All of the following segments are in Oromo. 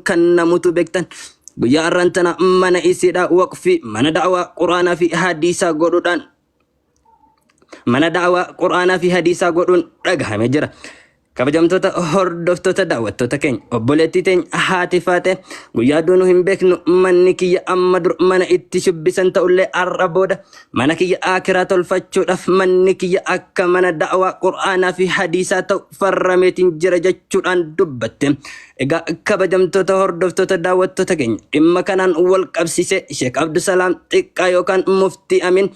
kan namutu beektan guyyaa har'aan tana mana isiidha waqfi mana da'awaa quraanaa fi hadiisaa godhuudhaan mana da'awaa quraanaa fi hadiisaa godhuun dhagahame jira. Kabajamtoota hordoftoota daawwattoota keenya obboleettii teenya haati faate guyyaa duunu hin beeknu manni kiyya amma dur mana itti shubbisan ta'ullee har'a booda mana kiyya akiraa tolfachuudhaaf manni kiyya akka mana da'awaa qur'aanaa fi hadiisaa ta'u farrameetiin jira jechuudhaan dubbatte. Egaa kabajamtoota hordoftoota daawwattoota keenya dhimma kanaan wal qabsiisee Sheek Abdusalaam xiqqaa yookaan muftii Amin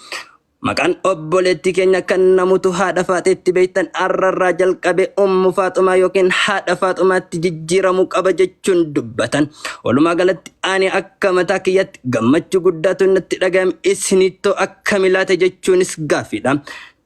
Maqaan obboleettii keenya kan namutu haadha faaxeetti beektan arrarraa jalqabee ummu faaxumaa yookiin haadha faaxumaatti jijjiiramuu qaba jechuun dubbatan. Walumaa galatti ani akka mataa kiyyatti gammachuu guddaatu natti dhaga'ame isiniittoo akkami laata jechuunis gaaffiidha.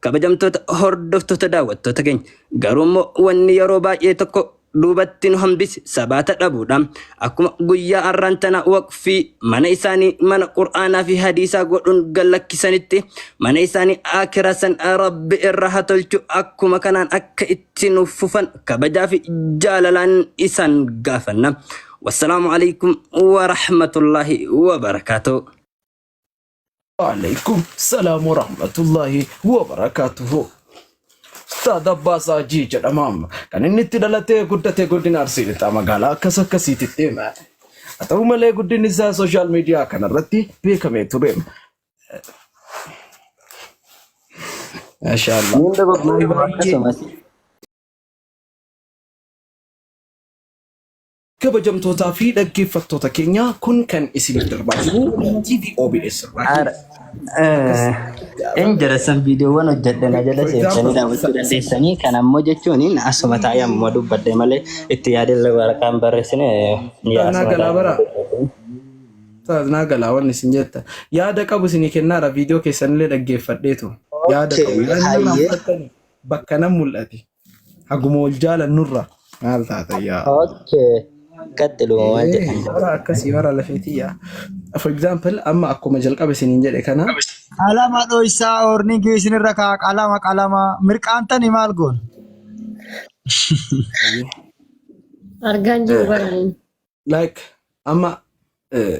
Kabajamtoota hordoftoota daawwattoota keenya garuummoo wanni yeroo baay'ee tokko duubatti nu hambise sabaata dhabuudha. Akkuma guyyaa arraan tana waqfii mana isaanii mana qur'aanaa fi hadiisaa godhuun gallakkisanitti mana isaanii aakiraa san rabbi irra ha tolchu akkuma kanaan akka itti nuuf fufan kabajaa fi jaalalaan isaan gaafanna. Wassalaamu alaikum wa rahmatullaahi wa barakaatuh. Waalaikum salaam wa rahmatullahi wa barakaatuhu. Ustaad Abbaas Haajii jedhama. Kan inni itti dhalatee guddate godina Arsii Lixaa magaalaa akkas akkasiititti. Haa ta'u malee guddinni isaa sooshaal miidiyaa kanarratti beekamee ture. Maashaallah. Niin de bakma Baay'ee akkasumas Kabajamtootaa fi dhaggeeffattoota keenya kun kan isinii darbaa jiru TV OBS Ar- irraa. eh, in jalassan viidiyoowwan hojjedhe na jala seentanii daawwachuu dandeessanii kan ammoo jechuun in asuma taa'ee ammoo dubbadde malee itti yaadillee waraqaan barreessine eh, ni Naa asuma galaa bara. taa'ee Taas naa galaa wanni isin jetta. Yaada qabu isinii kennaara viidiyoo keessanillee dhaggeeffadheetu. Yaada Okay, qabu. Yaadni nama hayyee. fudhatani bakka nan mul'ate. Haguma wal jaalannurra maal taata yaa Allah. Okay. Qaxxiluma maal Eh, jedhan. bara akkasii bara lafeetii yaa. For example amma akkuma jalqaba isiniin jedhe kana Qalama dhoysaa oornigii isinirra kaa qalama qalama mirqaantani maal goon? ayyee. Argaan jiru baraniin. like amma eh,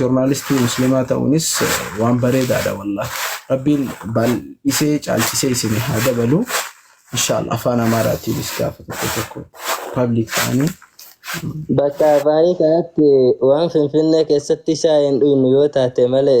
Joornaalistii muslimaa ta'uunis waan bareedaadha wallah. Rabbiin baay'isee caalchisee isin haa dabalu. Inshaalla afaan Amaaraatiinis gaafa tokko tokko pabliik ta'anii Bakka afaanii kanatti waan Finfinnee keessatti shaayii hin dhugnu yoo taate malee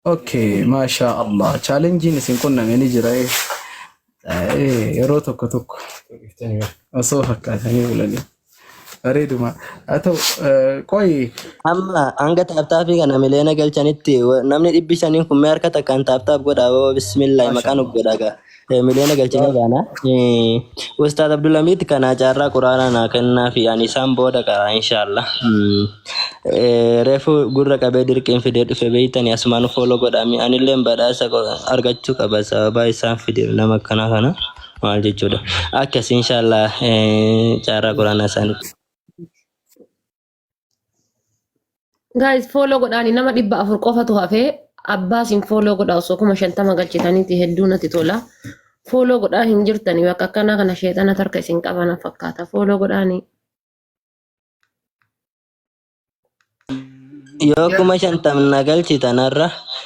Okay, masha Allah. Challengein isin qunname ni jira. eh. Eh, Yeroo tokko tokko osoo fakkaatanii bulanii. Bareeduma. Haa ta'u, eh, qoyi. Amma hanga taaptaappii kana miliyoona galchanitti wa- namni dhibbi shaniin kun mee harka takkaan taaptaap godhaa baba bismillaahi Masha maqaan of Allah. godhaa gaa. Eh, Miliyoona galchinee baana. Eh, Ustaaz Abdulhamiid kanaa caarraa quraanaa naa kennaa fi ani isaan booda qara inshaallah. Mm. Eh, Reefu gurra qabee dirqiin fidee dhufe beeytani asumaan fooloo godhaami. Anilleen badhaasa qo- argachuu qaba sababaa isaan fide nama akkanaa kana maal jechuudha. Akkas inshaallah eh, caarraa quraanaa isaanii. Guys follow godhaani nama dhibba afur qofatu hafee abbaa isin follow godhaa osoo kuma shantama galchitaniiti hedduu natti tola. Follow godhaa hin jirtani bakka akkanaa kana sheexana tarka isin qabana fakkaata follow godhaani. Yoo kuma shantamna galchitanarra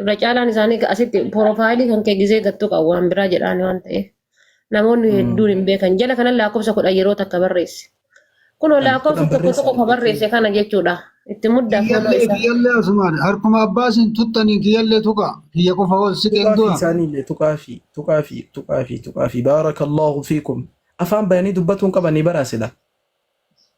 irra caalaan isaanii ga- asitti porofaayilii kan kee gizee gattuu qabu waan biraa jedhaani waan ta'eef namoonni hedduun hin beekan jala kanan lakkoofsa kudhan yeroo takka barreesse kunoo Kudhan lakkoofsa kudhan tokko barreessaa tokko ka barreesse kana jechuudha itti muddaa fooloo Kiyyallee isaa kiyyallee asumaan harkuma abbaasin tuttaniin kiyyallee tuqa kiyya qofa ol siqeen tuqaa fi du'a. isaanii illee tuqaa fi tuqaa fi tuqaa fi tuqaa fi baarakallahu fiikum afaan bayanii dubbatuun qabanii baraa sila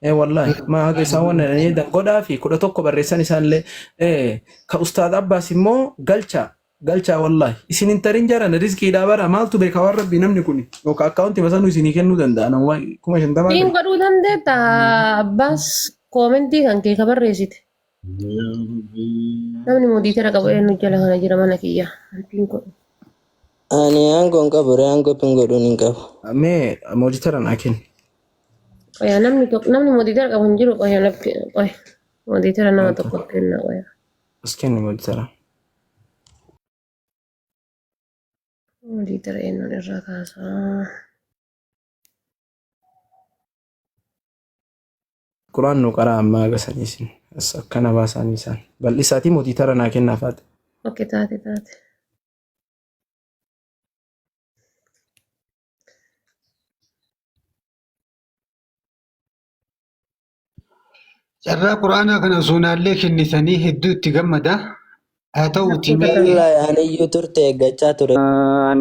Ee wallaahi maa haga isaan waan jedhan eedan godhaa fi kudha tokko barreessan isaallee ee ka ustaad abbaas immoo galchaa galchaa wallaahi isin hin tarin jaran rizqiidhaa bara maaltu beeka waan rabbii namni kun yookaan akkaawunti masanuu isinii kennuu danda'a nama kuma shantamaa Siin ta'e godhuu dandeetta abbaas koomentii kan kee ka barreessite. Yaa Rabbii. Namni modiitera qabu eenyu jala kana jira mana kiyya. Antiin kun. Ani aangoo hin qabu ree aangoo pin godhuun hin qabu. Mee mooditara naa kenni. Qoya namni tokko namni modiitera qabu hin jiru qoya naf qoya. Modiitera nama Wanta tokko kenna qoya. as kenni mooditara. Modiitera eenyuun irraa kaasaa. Quraan nu qaraa ammaa aga sanii isin as akkana baasaanii isaan bal'isaatii mootii tara naa kennaa faate. Oke taate taate. Carraa quraanaa kana suunaallee kennisanii hedduu itti gammada. Haa ta'uutii mee Wallahi ani iyyuu turte eeggachaa ture. An